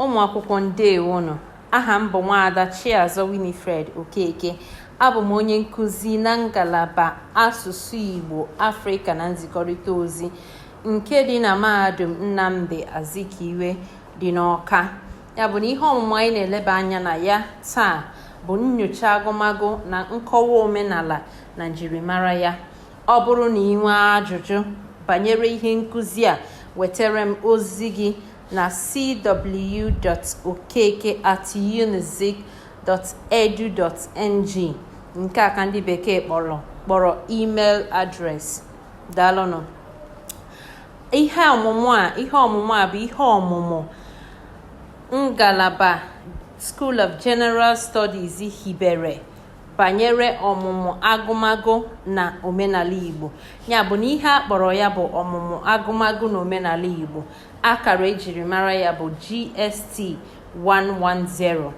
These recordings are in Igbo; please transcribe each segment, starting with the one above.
ụmụ akwụkwọ ndewonụ aha m bụ nwaada Chiazọ Winifred Okeke abụ m onye nkụzi na ngalaba asụsụ Igbo Afrịka na nzikọrịta ozi nke dị na mahadum Nnamdi Azikiwe dị n'Ọka ya bụ na ihe ọmụmụ anyị na-eleba anya na ya taa bụ nnyocha agụmagụ na nkọwa omenala na njirimara ya ọ bụrụ na ị nwee ajụjụ banyere ihe nkụzi a wetara m ozi gị na cw.okeke at unizik.edu.ng nke a ka ndị bekee kpọrọ kpọrọ email address daalụnụ ihe ọmụmụ a ihe ọmụmụ a bụ ihe ọmụmụ ngalaba School of General Studies hibere banyere ọmụmụ agụmagụ na omenala Igbo ya bụ na ihe a kpọrọ ya bụ ọmụmụ agụmagụ na omenala Igbo akara e jiri mara ya bụ GST 110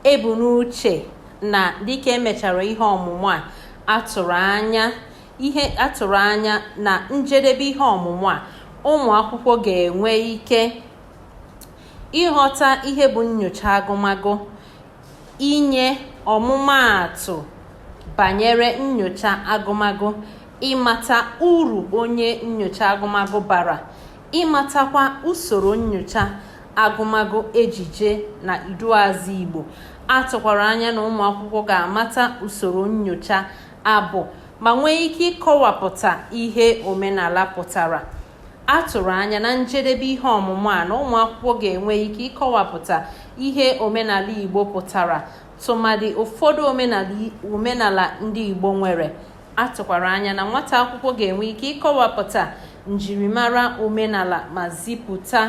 e bu n'uche na dịka e mechara ihe ọmụmụ a a tụrụ anya ihe a tụrụ anya na njedebe ihe ọmụmụ a ụmụ akwụkwọ ga-enwe ike ịghọta ihe bụ nnyocha agụmagụ inye ọmụmaatụ banyere nnyocha agụmagụ ịmata uru onye nnyocha agụmagụ bara ịmatakwa usoro nnyocha agụmagụ ejije na iduuazị Igbo a tụkwara anya na ụmụ akwụkwọ ga-amata usoro nnyocha abụ ma nwee ike ịkọwapụta ihe omenala pụtara a tụrụ anya na njedebe ihe ọmụmụ a na ụmụ akwụkwọ ga-enwe ike ịkọwapụta ihe omenala Igbo pụtara tụmadị ụfọdụ omenala ndị Igbo nwere A tụkwara anya na nwata akwụkwọ ga-enwe ike ịkọwapụta njirimara omenala ma zipụta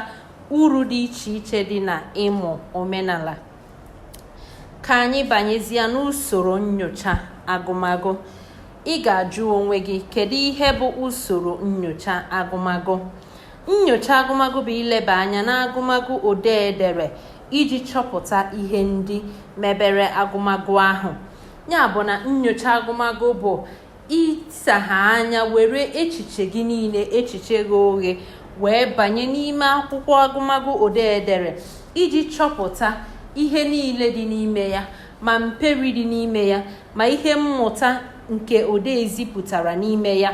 uru dị iche iche dị na ịmụ omenala. Ka anyị banyezie n'usoro nnyocha agụmagụ. Ị ga-ajụ onwe gị kedu ihe bụ usoro nnyocha agụmagụ? Nnyocha agụmagụ bụ ileba anya n'agụmagụ odee dere iji chọpụta ihe ndị mebere agụmagụ ahụ. ya bụ na nnyocha agụmagụ bụ ịsagha anya were echiche gị niile echiche ghe oghe wee banye n'ime akwụkwọ agụmagụ odee dere iji chọpụta ihe niile dị n'ime ya ma mperi dị n'ime ya ma ihe mmụta nke odee zipụtara n'ime ya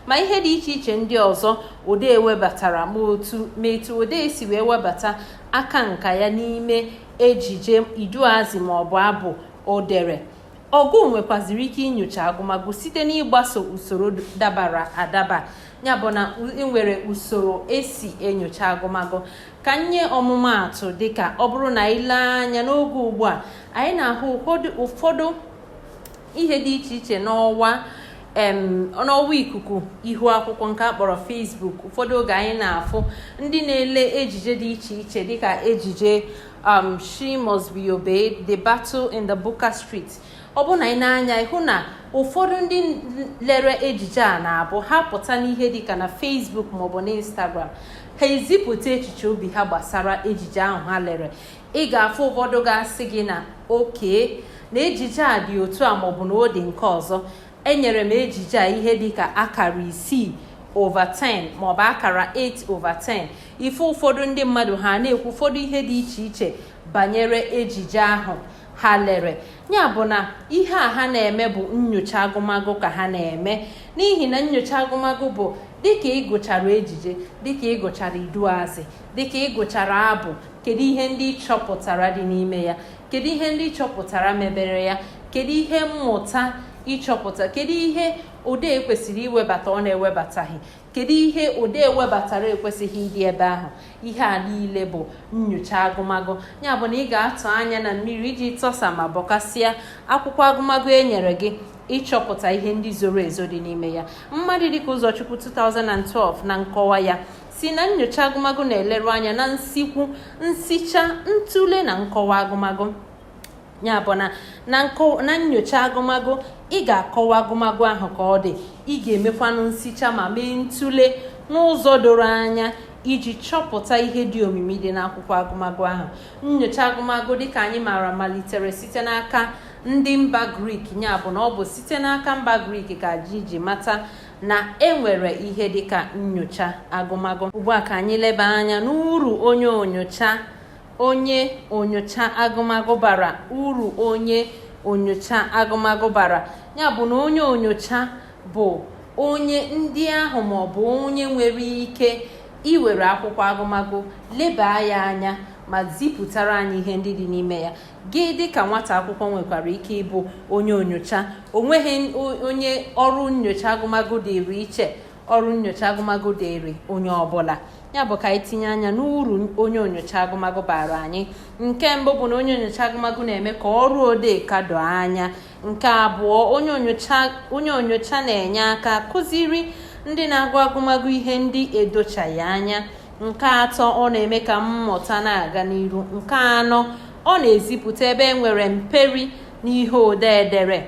ma ihe dị iche iche ndị ọzọ odee webatara ma otu ma etu odee si wee webata aka nka ya n'ime ejije iduuazị ma ọ bụ abụ o dere ọgụụ nwekwaziri ike inyocha agụmagụ site n'ịgbaso usoro dabara adaba ya bụ na enwere usoro esi enyocha agụmagụ ka m nye ọmụmaatụ dịka ọ bụrụ na i lee anya n'oge ugbu a anyị na-ahụ ụfọdụ ihe dị iche iche n'ọwa n'ọwa ikuku ihu akwụkwọ nke a kpọrọ Facebook ụfọdụ oge anyị na-afụ ndị na-ele ejije dị iche iche dịka ejije um, She Must Be Obeyed, The Battle in the Buka Street ọ bụ na ị na-anya ịhụ na ụfọdụ ndị lere ejije a na-abụ ha pụta n'ihe dịka na Facebook maọbụ na Instagram ha ezipụta echiche obi ha gbasara ejije ahụ ha lere ị ga-afụ ụfọdụ ga-asị gị na okay na ejije a dị otu a maọbụ na ọ dị nke ọzọ enyere m ejije a ihe dịka akara isii over 10 maọbụ akara 8 over 10 ị fụ ụfọdụ ndị mmadụ ha na-ekwu ụfọdụ ihe dị iche iche banyere ejije ahụ ha lere ya bụ na ihe a ha na-eme bụ nyocha agụmagụ ka ha na-eme n'ihi na nyocha agụmagụ bụ dịka ịgụchara ejije dịka ịgụchara iduuazị dịka ịgụchara abụ kedu ihe ndị ị chọpụtara dị n'ime ya kedu ihe ndị ị chọpụtara mebere ya kedu ihe mmụta ị chọpụta kedu ihe odee kwesịrị iwebata ọ na-ewebataghị kedu ihe odee webatara ekwesịghị ịdị ebe ahụ ihe a niile bụ nyocha agụmagụ ya bụ na ị ga-atụ anya na mmiri iji tọsaa ma bọkasịa akwụkwọ agụmagụ e nyere gị ịchọpụta ihe ndị zoro ezo dị n'ime ya mmadụ dịka ụzọchukwu 2012 na nkọwa ya sị na nyocha agụmagụ na-eleru anya na nsikwu nsicha ntụle na nkọwa agụmagụ ya bụ na na nyocha agụmagụ ị ga-akọwa agụmagụ ahụ ka ọ dị ị ga-emekwanụ nsicha ma mee ntụle n'ụzọ doro anya iji chọpụta ihe dị omimi dị n'akwụkwọ agụmagụ ahụ nyocha agụmagụ dịka anyị maara malitere site n'aka ndị mba grik ya bụ na ọ bụ site n'aka mba grik ka anyị ji mata na enwere ihe dịka nyocha agụmagụ ugbu a ka anyị leba anya n'uru onye onyocha onye onyocha agụmagụ bara uru onye onyocha agụmagụ bara ya bụ na onye onyocha bụ onye ndị ahụ ma ọ bụ onye nwere ike iwere akwụkwọ agụmagụ leba ya anya ma zipụtara anyị ihe ndị dị n'ime ya Gị dị ka nwata akwụkwọ nwekwara ike ịbụ onye onyocha. O nweghị onye ọrụ nnyocha agụmagụ dịịrị iche. Ọrụ nnyocha agụmagụ dịịrị onye ọbụla. Ya bụ ka anyị tinye anya n'uru onye onyocha agụmagụ baara anyị. Nke mbụ bụ na onye onyocha agụmagụ na-eme ka ọrụ odee ka doo anya. Nke abụọ, onye onyocha na-enye aka kụziri ndị na-agụ agụmagụ ihe ndị edochaghị anya. nke atọ ọ na-eme ka mmụta na-aga n'iru nke anọ ọ na-ezipụta ebe e nwere mperi n'ihe odee edere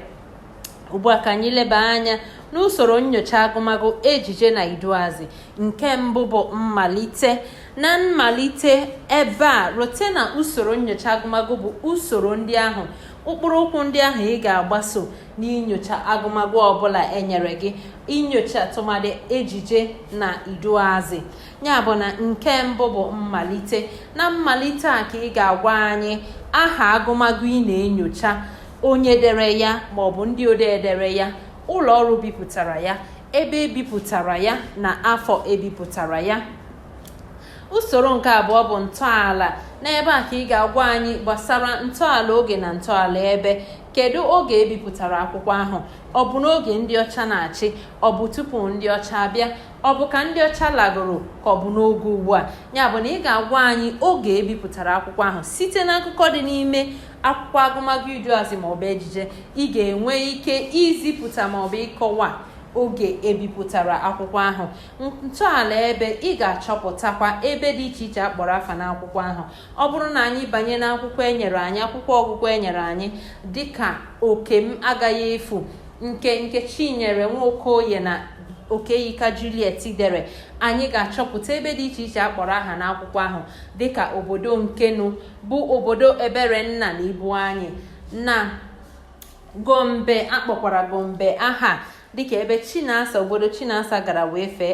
ugbu a ka anyị leba anya n'usoro nyocha agụmagụ ejije na iduazị nke mbụ bụ mmalite na mmalite ebe a rote na usoro nyocha agụmagụ bụ usoro ndị ahụ ụkpụrụ ụkwụ ndị ahụ ị ga-agbaso n'inyocha agụmagụ ọbụla enyere gị inyocha tụmadị ejije na iduazị ya bụ na nke mbụ bụ mmalite na mmalite a ka ị ga-agwa anyị aha agụmagụ ị na-enyocha onye dere ya maọbụ ndị odee dere ya ụlọ ọrụ bipụtara ya ebe ebipụtara ya na afọ ebipụtara ya usoro nke abụọ bụ ntọala n'ebe a ka ị ga-agwa anyị gbasara ntọala oge na ntọala ebe kedu oge ebipụtara akwụkwọ ahụ ọ bụ n'oge ndị ọcha na-achị ọ bụ tupu ndị ọcha abịa ọ bụ ka ndị ọcha lagoro ka ọ bụ n'oge ugbu a ya bụ na ị ga-agwa anyị oge ebipụtara akwụkwọ ahụ site na akụkọ dị n'ime akwụkwọ agụmagụ iduazị maọbụ ejije ị ga-enwe ike izipụta maọbụ ịkọwa oge ebipụtara akwụkwọ ahụ ntọala ebe ị ga-achọpụtakwa ebe dị iche iche akpọrọ afa n'akwụkwọ ahụ ọ bụrụ na anyị banye n'akwụkwọ enyere anyị akwụkwọ ọgụgụ enyere anyị dịka oke m agaghị efu nke nkechinyere nwokoye na okeyika juliet dere anyị ga-achọpụta ebe dị iche iche akpọrọ aha n'akwụkwọ ahụ dịka obodo nkenu bụ obodo eberenna na ibu anyị na gombe akpọkwara gombe aha dịka ebe chinasa obodo chinasa gara wee fee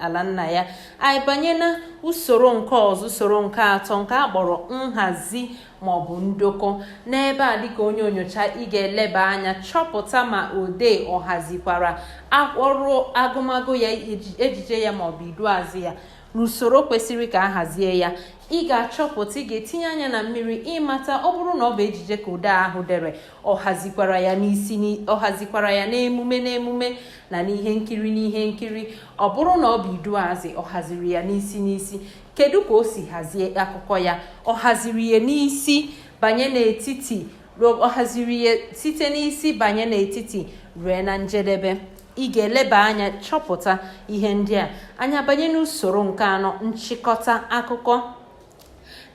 ala nna ya anyị banye na usoro nke ọzọ usoro nke atọ nke a kpọrọ nhazi maọbụ ndokọ n'ebe a dịka onye onyocha ị ga-eleba anya chọpụta ma odee ọ hazikwara ọrụ agụmagụ ya ejije ya maọbụ iduazị ya n'usoro kwesịrị ka a hazie ya ị ga-achọpụta ị ga-etinye anya na mmiri ịmata ọ bụrụ na ọ bụ ejije ka odee ahụ dere ọ hazikwara ya n'isi ọ hazikwara ya n'emume n'emume na n'ihe nkiri n'ihe nkiri ọ bụrụ na ọ bụ iduazị ọ haziri ya n'isi n'isi kedu ka o si hazie akụkọ ya ọ haziri ya n'isi banye n'etiti ọ haziri ya site n'isi banye n'etiti rue na njedebe ị ga-eleba anya chọpụta ihe ndị a anyị abanye n'usoro nke anọ nchịkọta akụkọ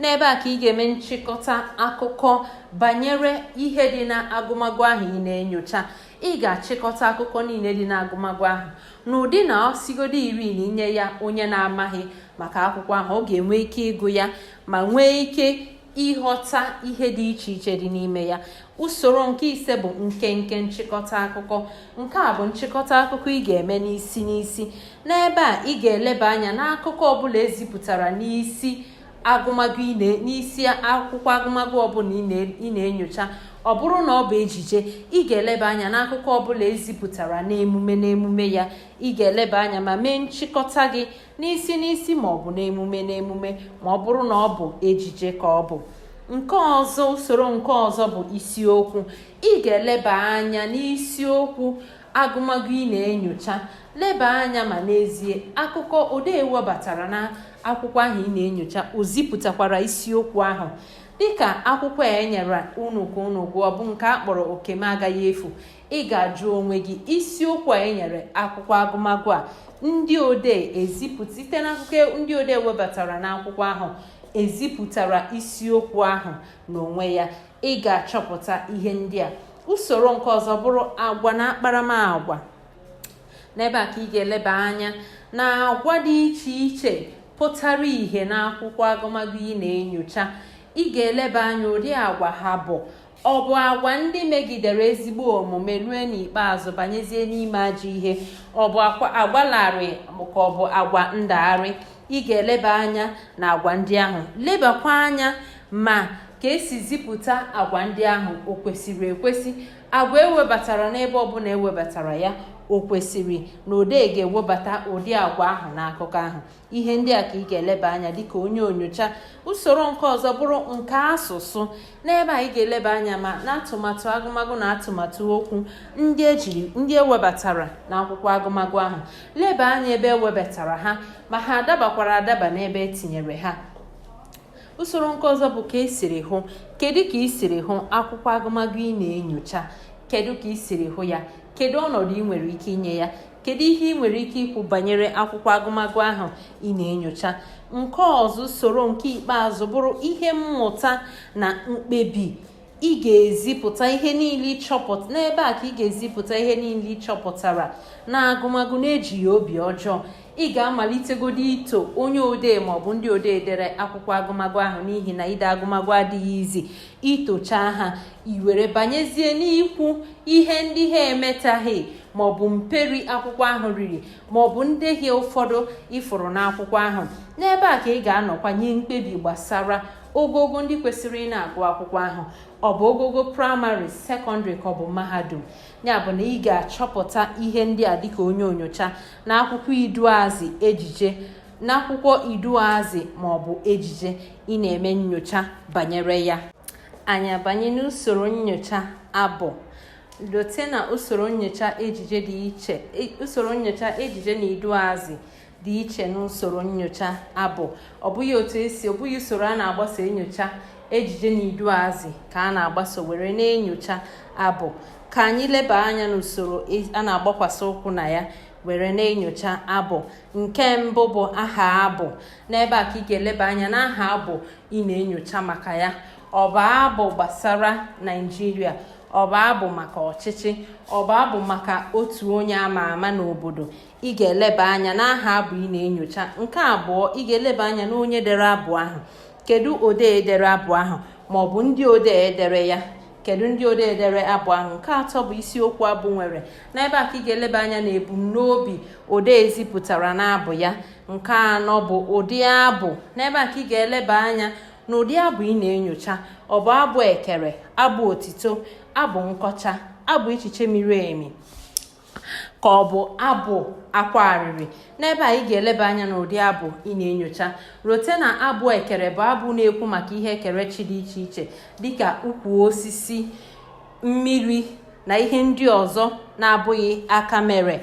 n'ebe a ka ị ga-eme nchịkọta akụkọ banyere ihe dị na agụmagụ ahụ ị na-enyocha ị ga-achịkọta akụkọ niile dị na agụmagụ ahụ n'ụdị na ọ sigodo iri na i nye ya onye na-amaghị maka akwụkwọ ahụ ọ ga-enwe ike ịgụ ya ma nwee ike ịghọta ihe dị iche iche dị n'ime ya usoro nke ise bụ nkenke nchịkọta akụkọ nke a bụ nchịkọta akụkọ ị ga-eme n'isi n'isi n'ebe a ị ga-eleba anya n'akụkọ ọbụla ezipụtara n'isi agụmagụ n'isi akwụkwọ agụmagụ ọbụla ị na-enyocha ọ bụrụ na ọ bụ ejije ị ga-eleba anya n'akụkọ ọbụla ezipụtara n'emume n'emume ya ị ga-eleba anya ma mee nchịkọta gị n'isi n'isi ma ọ bụ n'emume n'emume ma ọ bụrụ na ọ bụ ejije ka ọ bụ nke ọzọ usoro nke ọzọ bụ isiokwu ị ga-eleba anya n'isiokwu agụmagụ ị na-enyocha leba anya ma n'ezie akụkọ odee webatara na akwụkwọ ahụ ị na-enyocha o zipụtakwara isiokwu ahụ dịka akwụkwọ a enyere unu ka unu gụọ bụ nke a kpọrọ oke m agaghị efu ị ga-ajụ onwe gị isiokwu a enyere akwụkwọ agụmagụ a ndị odee ezipụta site n'akụkọ ndị odee webatara n'akwụkwọ ahụ ezipụtara isiokwu ahụ n'onwe ya ị ga-achọpụta ihe ndị a usoro nke ọzọ bụrụ agwa na akparamagwa n'ebe a ka ị ga-eleba anya na agwa dị iche iche pụtara ìhè n'akwụkwọ agụmagụ ị na-enyocha ị ga-eleba anya ụdị agwa ha bụ Ọ bụ agwa ndị megidere ezigbo omume rue n'ikpeazụ banyezie n'ime ajọ ihe. Ọ bụ agwa larịị ka ọ bụ agwa ndagharị. Ị ga-eleba anya na agwa ndị ahụ. Lebakwa anya ma ka esi zipụta agwa ndị ahụ o kwesịrị ekwesị. Agwa ewebatara n'ebe ọbụla ewebatara ya o kwesịrị na odee ga-ewebata ụdị agwa ahụ n'akụkọ ahụ. ihe ndị a ka ị ga-eleba anya dịka onye onyocha usoro nke ọzọ bụrụ nke asụsụ n'ebe a ị ga-eleba anya ma na atụmatụ agụmagụ na atụmatụ okwu ndị ejiri ndị ewebatara na akwụkwọ agụmagụ ahụ leba anya ebe ewebatara ha ma ha adabakwara adaba n'ebe etinyere ha usoro nke ọzọ bụ ka esiri hụ kedu ka i siri hụ akwụkwọ agụmagụ ị na-enyocha kedu ka i siri hụ ya kedu ọnọdụ ị nwere ike inye ya kedu ihe ị nwere ike ikwu banyere akwụkwọ agụmagụ ahụ ị na-enyocha nke ọzọ usoro nke ikpeazụ bụrụ ihe mmụta na mkpebi ị ga-ezipụta ihe niile ị chọpụta n'ebe a ka ị ga-ezipụta ihe niile ị chọpụtara na agụmagụ na-ejighị obi ọjọọ ị ga-amalitegodi ito onye odee maọbụ ndị odee dere akwụkwọ agụmagụ ahụ n'ihi na ide agụmagụ adịghị easy i tochaa ha i were banyezie n'ikwu ihe ndị ha emetaghị maọbụ mperi akwụkwọ ahụ riri maọbụ ndehie ụfọdụ ị fụrụ n'akwụkwọ ahụ n'ebe a ka ị ga-anọkwa nye mkpebi gbasara ogogo ndị kwesịrị ị na-agụ akwụkwọ ahụ ọ bụ ogogo praịmarị sekọndịrị ka ọ bụ mahadum ya bụ na ị ga-achọpụta ihe ndị a dịka onye onyocha na akwụkwọ iduuazị ejije n'akwụkwọ iduuazị ma ọ bụ ejije ị na-eme nyocha banyere ya anyị abanye n'usoro nyocha abụ rote na usoro nyocha ejije dị iche e, usoro nyocha ejije na iduuazị dị iche n'usoro nyocha abụ ọ bụghị otu esi ọ bụghị usoro a na-agbaso enyocha ejije na iduuazị ka a na-agbaso were na-enyocha abụ ka anyị leba anya n'usoro e, a na-agbakwasị ụkwụ na ya were na-enyocha abụ nke mbụ bụ aha abụ n'ebe a ka ị ga-eleba anya n'aha abụ ị na-enyocha maka ya ọ bụ abụ gbasara naịjirịa ọ bụ abụ maka ọchịchị ọ bụ abụ maka otu onye ama ama n'obodo ị ga-eleba anya n'aha abụ ị na-enyocha nke abụọ ị ga-eleba anya n'onye dere abụ ahụ kedu odee dere abụ ahụ maọbụ ndị odee dere ya kedu ndị odee dere abụ ahụ nke atọ bụ isiokwu abụ nwere n'ebe a ka ị ga-eleba anya na ebumnobi odee zipụtara n'abụ ya nke anọ bụ ụdị abụ n'ebe a ka ị ga-eleba anya na ụdị abụ ị na-enyocha ọ bụ abụ ekere abụ otito abụ nkọcha abụ echiche miri emi ka ọ bụ abụ akwa arịrị n'ebe a ị ga-eleba anya n'ụdị abụ ị na-enyocha rote na abụ ekere bụ abụ na-ekwu maka ihe ekerechi dị iche iche dịka ukwu osisi mmiri na ihe ndị ọzọ na-abụghị aka mere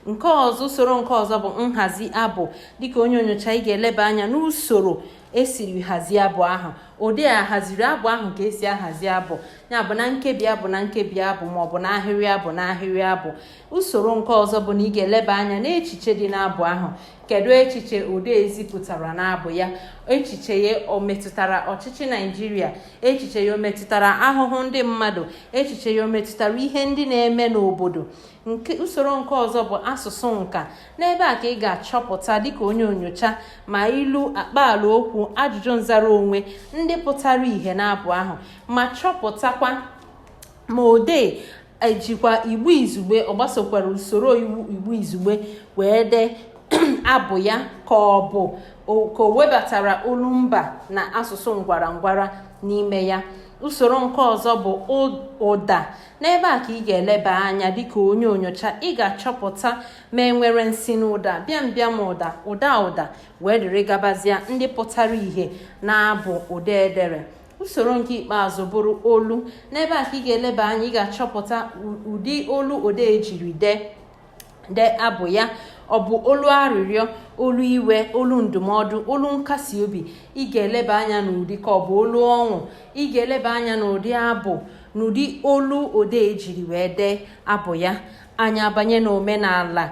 nke ọzọ usoro nke ọzọ bụ nhazi abụ dịka onye onyocha ị ga-eleba anya n'usoro esiri hazie abụ ahụ odee a haziri abụ ahụ ka esi ahazi abụ ya bụ na nkebi abụ na nkebi abụ ma ọ bụ n'ahịrị abụ n'ahịrị abụ usoro nke ọzọ bụ na ị ga-eleba anya n'echiche dị n'abụ ahụ kedu echiche odee zipụtara n'abụ ya echiche ya o metụtara ọchịchị naịjirịa echiche ya o metụtara ahụhụ ndị mmadụ echiche ya o metụtara ihe ndị na-eme n'obodo nke usoro nke ọzọ bụ asụsụ nka n'ebe a ka ị ga-achọpụta dịka onye onyocha ma ilu akpaala okwu ajụjụ nzara onwe ndị pụtara ìhè n'abụ ahụ ma chọpụtakwa ma odee ejikwa igbo izugbe ọ gbasokwara usoro iwu igbo izugbe wee dee abụ ya ka ọ bụ ka o webatara olumba na asụsụ ngwara ngwara n'ime ya usoro nke ọzọ bụ ụda n'ebe a ka ị ga-eleba anya dịka onye onyocha ị ga-achọpụta ma enwere nsinụda bịambịa ụda ụda ụda wee dịrị gabazia ndị pụtara ìhè n'abụ odee dere usoro nke ikpeazụ bụrụ olu n'ebe a ka ị ga-eleba anya ị ga-achọpụta ụdị olu odee jiri dee dee abụ ya ọ bụ olu arịrịọ olu iwe olu ndụmọdụ olu nkasi obi ị ga-eleba anya n'ụdị ka ọ bụ olu ọṅụ ị ga-eleba anya n'ụdị abụ n'ụdị olu odee jiri wee dee abụ ya anyị abanye n'omenala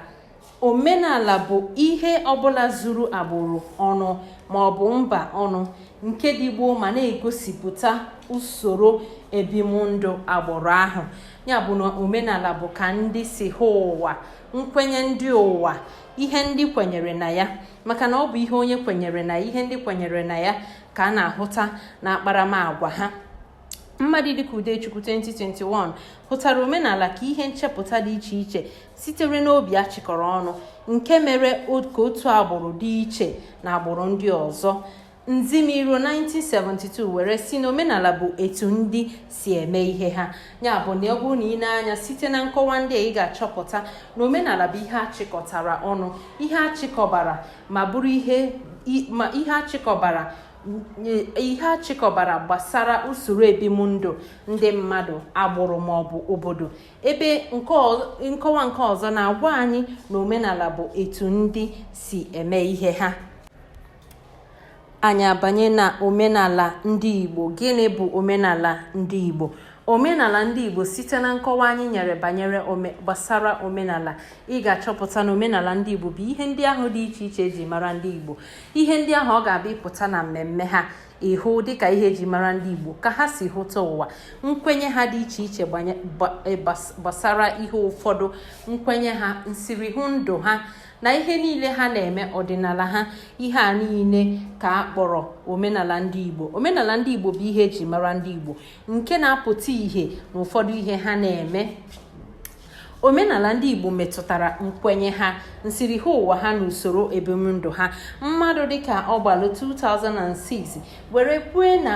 omenala bụ ihe ọbụla zuru agbụrụ ọnụ ma ọ bụ mba ọnụ nke dị gboo ma na-egosipụta usoro ebimndụ agbụrụ ahụ ya bụ na omenala bụ ka ndị si hụ ụwa nkwenye ndị ụwa ihe ndị kwenyere na ya maka na ọ bụ ihe onye kwenyere na ihe ndị kwenyere na ya ka a na-ahụta na akparamagwa ha mmadụ dịka Udechukwu 2021 hụtara omenala ka ihe nchepụta dị iche iche sitere n'obi a chịkọrọ ọnụ nke mere ka otu agbụrụ dị iche na agbụrụ ndị ọzọ nzimiro 1972 were sị na omenala bụ etu ndị si eme ihe ha ya bụ na ọ bụrụ na i nee anya site na nkọwa ndị a ị ga-achọpụta na omenala bụ ihe achịkọtara ọnụ ihe achịkọbara ma bụrụ ihe achịkọbara gbasara usoro ebimndụ ndị mmadụ agbụrụ maọbụ obodo ebe nkọwa nke ọzọ na-agwa anyị na omenala bụ etu ndị si eme ihe ha anyị abanye na omenala ndị Igbo gịnị bụ omenala ndị Igbo omenala ndị Igbo site na nkọwa anyị nyere banyere gbasara omenala ị ga-achọpụta na omenala ndị Igbo bụ ihe ndị ahụ dị iche iche eji mara ndị Igbo ihe ndị ahụ ọ ga-abụ ị pụta na mmemme ha ị hụ dịka ihe eji mara ndị Igbo ka ha si hụta ụwa nkwenye ha dị iche iche e, gbasara ihe ụfọdụ nkwenye ha nsirihụ ndụ ha na ihe niile ha na-eme ọdịnala ha ihe a niile ka a kpọrọ omenala ndị Igbo omenala ndị Igbo bụ ihe eji mara ndị Igbo nke na-apụta ihe na ụfọdụ ihe ha na-eme omenala ndị Igbo metụtara nkwenye ha nsirihụ ụwa ha na usoro ebimndụ ha mmadụ dịka ọgbalụ 2006 were kwue na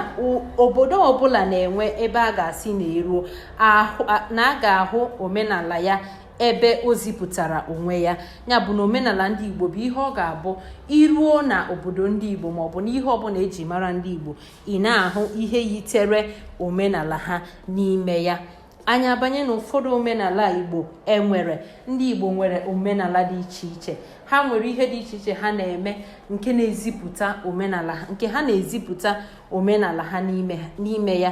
obodo ọbụla na-enwe ebe a ga-asị na eruo na a ga-ahụ omenala ya ebe o zipụtara onwe ya ya bụ na omenala ndị igbo bụ ihe ọ ga-abụ i ruo na obodo ndị igbo maọbụ n'ihe ọbụla eji mara ndị igbo ị na-ahụ ihe yitere omenala ha n'ime ya anyị abanye na ụfọdụ omenala igbo enwere ndị igbo nwere omenala dị iche iche ha nwere ihe dị iche iche ha na-eme nke na-ezipụta omenala ha nke ha na-ezipụta omenala ha n'ime ya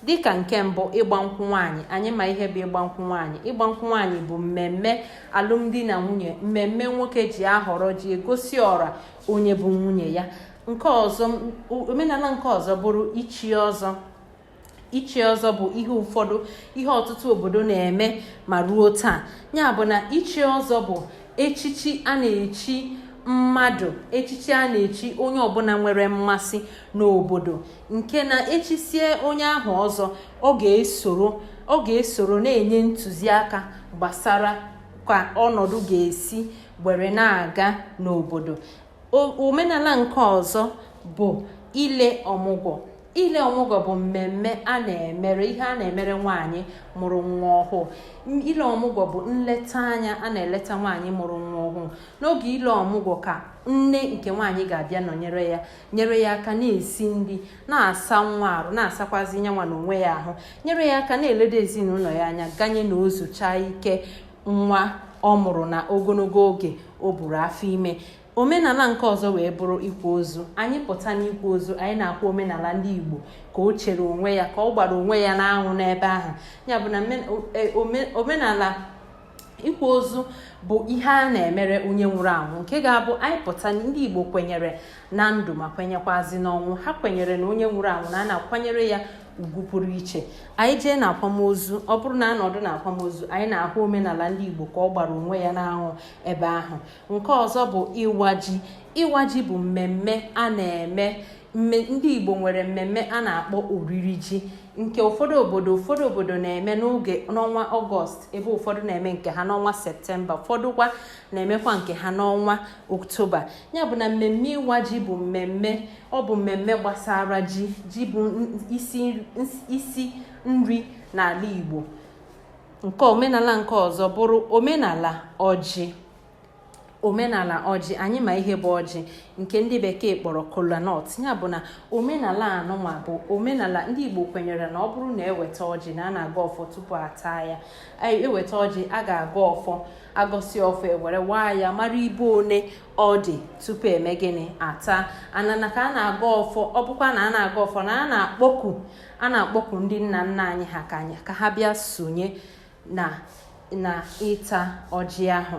dịka nke mbụ ịgba nkwụ nwaanyị anyị ma ihe bụ ịgba nkwụ nwaanyị ịgba nkwụ nwaanyị bụ mmemme alụmdi na nwunye mmemme nwoke ji ahọrọ ji egosi ọra onye bụ nwunye ya nke ọzọ omenala nke ọzọ bụrụ ichi ọzọ ichi ọzọ bụ ihe ụfọdụ ihe ọtụtụ obodo na-eme ma ruo taa ya bụ na ichi ọzọ bụ echichi a na-echi mmadụ echichi a na-echi onye ọbụla nwere mmasị n'obodo nke na echisie onye ahụ ọzọ ọ ga-esoro ọ ga-esoro na-enye ntụziaka gbasara ka ọnọdụ ga-esi were na-aga n'obodo omenala nke ọzọ bụ ile ọmụgwọ ile ọmụgwọ bụ mmemme a na-emere ihe a na-emere nwaanyị mụrụ nwa ọhụụ ile ọmụgwọ bụ nleta anya a na-eleta nwaanyị mụrụ nwa ọhụụ n'oge ile ọmụgwọ ka nne nke nwaanyị ga-abịa nọnyere ya nyere ya aka na-esi nri na-asa nwa arụ na-asakwazi nyanwa na onwe ya ahụ nyere ya aka na-eledo ezinụlọ ya anya ganye na o zuchaa ike nwa ọ mụrụ na ogologo oge o buru afọ ime omenala nke ọzọ wee bụrụ ikwa ozu anyị pụta n'ikwa ozu anyị na-akwa omenala ndị igbo ka o chere onwe ya ka ọ gbara onwe ya n'anwụ n'ebe ahụ ya bụ na e, omenala ịkwa ozu bụ ihe a na-emere onye nwụrụ anwụ nke ga-abụ anyị pụta ndị Igbo kwenyere na ndụ ma kwenyekwazi n'ọnwụ ha kwenyere na onye nwụrụ anwụ na a na-akwanyere ya ugwu pụrụ iche anyị jee na akwamozu ọ bụrụ na anọdụ na akwamozu anyị na-ahụ omenala ndị Igbo ka ọ gbara onwe ya n'anwụ ebe ahụ nke ọzọ bụ ịwa ji ịwa ji bụ mmemme a na-eme ndị Igbo nwere mmemme a na-akpọ oriri ji nke ụfọdụ obodo ụfọdụ obodo na-eme n'oge n'ọnwa ọgọst ebe ụfọdụ na-eme nke ha n'ọnwa septemba ụfọdụ kwa na-emekwa nke ha n'ọnwa oktoba ya bụ na mmemme ịwa ji bụ mmemme ọ bụ mmemme gbasara ji ji bụ isi nri n'ala igbo nke omenala nke ọzọ bụrụ omenala ọjị omenala ọjị anyị ma ihe bụ ọjị nke ndị bekee kpọrọ kola nut ya bụ na omenala anụnwa bụ omenala ndị igbo kwenyere na ọ bụrụ na eweta ọjị na a na-agọ ọfọ tupu ataa ya eweta ọjị a ga-agọ ọfọ agọsi ọfọ ewere waa ya mara ibe one ọ dị tupu eme gịnị ata anana ka a na-agọ ọfọ ọ bụkwa na a na-agọ ọfọ na a na-akpọku a na-akpọku ndị nna nna anyị ha ka ha bịa sonye na na ịta ọjị ahụ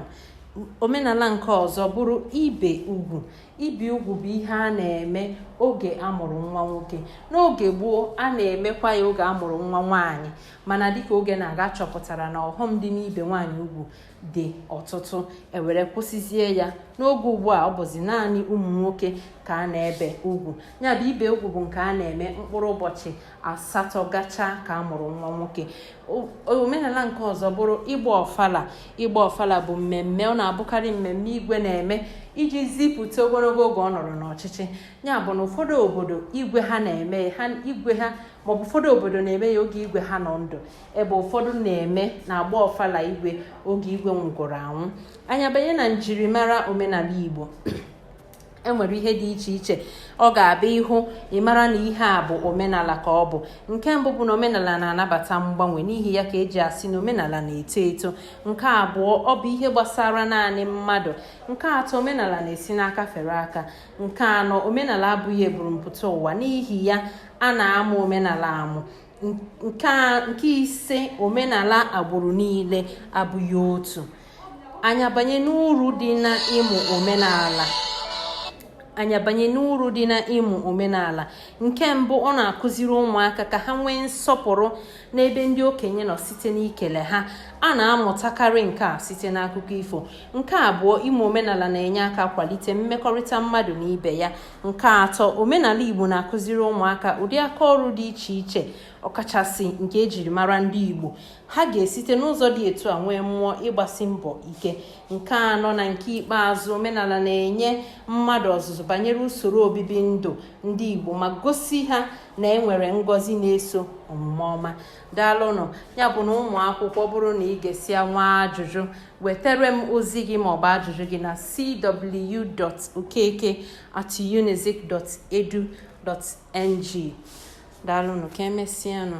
omenala nke ọzọ bụrụ ibe ugwu ibe ugwu bụ ihe a na-eme oge amụrụ nwa nwoke n'oge gboo a na-emekwa ya oge amụrụ nwa nwaanyị mana dịka oge na-aga achọpụtara na ọghọm dị n'ibe nwaanyị ugwu dị ọtụtụ ewere kwụsịzie ya n'oge ugbu a ọ bụzi naanị ụmụ nwoke ka a na-ebe ugwu ya bụ ibe ugwu bụ nke a na-eme mkpụrụ ụbọchị asatọ gachaa ka a mụrụ nwa nwoke omenala nke ọzọ bụrụ ịgba ọfala ịgba ọfala bụ mmemme ọ na-abụkarị mmemme igwe na-eme iji zipụta ogologo oge ọ nọrọ n'ọchịchị ya bụ na ụfọdụ obodo igwe ha na-eme maọbụ ụfọdụ obodo na-eme ya oge igwe ha nọ ndụ ebe ụfọdụ na-eme na-agba ọfala igwe oge igwe nwụgoro anwụ anyị abanye na njirimara omenala igbo enwere ihe dị iche iche ọ ga-abụ ị hụ ị mara na ihe a bụ omenala ka ọ bụ nke mbụ bụ na omenala na-anabata mgbanwe n'ihi ya ka eji asị na omenala na-eto eto nke abụọ ọ bụ ihe gbasara naanị mmadụ nke atọ omenala na-esi n'aka fere aka nke anọ omenala abụghị eburumpụta ụwa n'ihi ya a na-amụ omenala amụ nke ise omenala agbụrụ niile abụghị otu anyị abanye n'uru dị na ịmụ omenala anyị abanye n'uru dị na ịmụ omenala nke mbụ ọ na-akụziri ụmụaka ka ha nwee nsọpụrụ n'ebe ndị okenye nọ site n'ikele ha a na-amụtakarị nke a site n'akụkọ ifo nke abụọ ịmụ omenala na-enye aka kwalite mmekọrịta mmadụ na ibe ya nke atọ omenala igbo na-akụziri ụmụaka ụdị aka ọrụ dị iche iche ọkachasị nke ejiri mara ndị igbo ha ga-esite n'ụzọ dị etu a nwee mmụọ ịgbasi mbọ ike nke anọ na nke ikpeazụ omenala na-enye mmadụ ọzụzụ banyere usoro obibi ndụ ndị Igbo ma gosi ha na enwere ngọzi na-eso omume ọma daalụnụ ya bụ na ụmụ akwụkwọ bụrụ na i gesịa nwee ajụjụ wetere m ozi gị maọbụ ajụjụ gị na cw.okeke at NG. Daalụnụ ka emesịanụ.